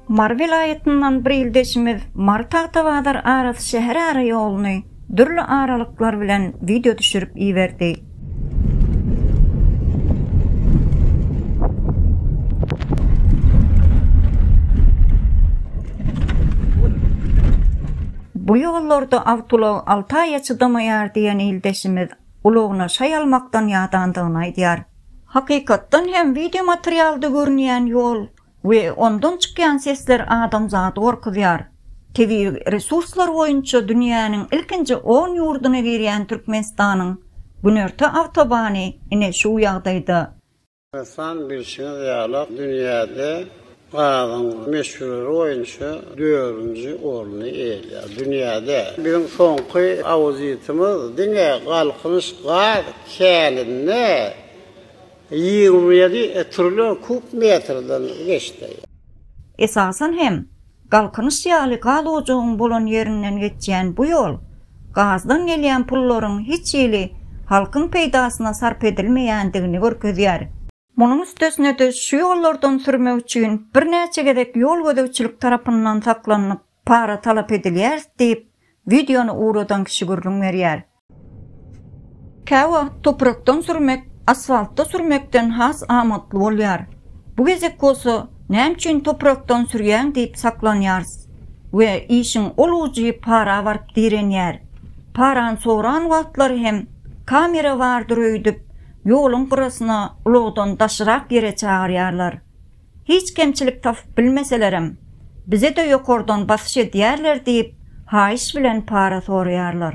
Mary welaýatyndan bir ildeşimiz Mary Tagtabazar arasy şäher ara ýoluny dürli aralyklar bilen wideo düşürip iberdi. Bu ýollarda awtoulag alty aýa çydamaýar diýen ildeşimiz ulagyna şaý almakdan ýadandygyny aýdýar. Hakykatdan hem wideomaterialda görünýän ýol we ondan çykýan sesler adamzady gorkuzýar. Tebigy resurslar boýunça dünýäniň ilkinji on ýurduna girýän Türkmenistanyň günorta awtobany ine şu ýagdaýda. Ynsan, bilşiňiz ýaly, dünýäde gazyň möçberi boýunça dördünji orny eýeleýär. Dünýäde biziň soňky auditimiz diňe Galkynyş gaz käninde ýigrimi ýedi trillion kub metrden geçdi. Esasan hem, Galkynyş ýaly gaz ojagyň bolan ýerinden geçýän bu ýol gazdan gelýän pullaryň hiç hili halkyň peýdasyna sarp edilmeýändigini görkezýär. Munuň üstesine-de şu ýollardan sürmek üçin birnäçe gezek ýol gözegçilik tarapyndan saklanylyp, para talap edilýäris diýip, wideony ugradan kişi gürrüň berýär. Käwagt toprakdan sürmek asfaltda sürmekden has amatly bolýar. Bu gezek bolsa näme üçin toprakdan sürýäň diýip saklanýarys we işiň ol ujy para baryp direnýär. Parany soran wagtlary hem kamera bardyr öýdüp, ýoluň gyrasyna ulagdan daşyrak ýere çagyrýarlar. Hiç kemçilik tapyp bilmeselerem, bize-de ýokardan basyş edýärler diýip, haýyş bilen para soraýarlar.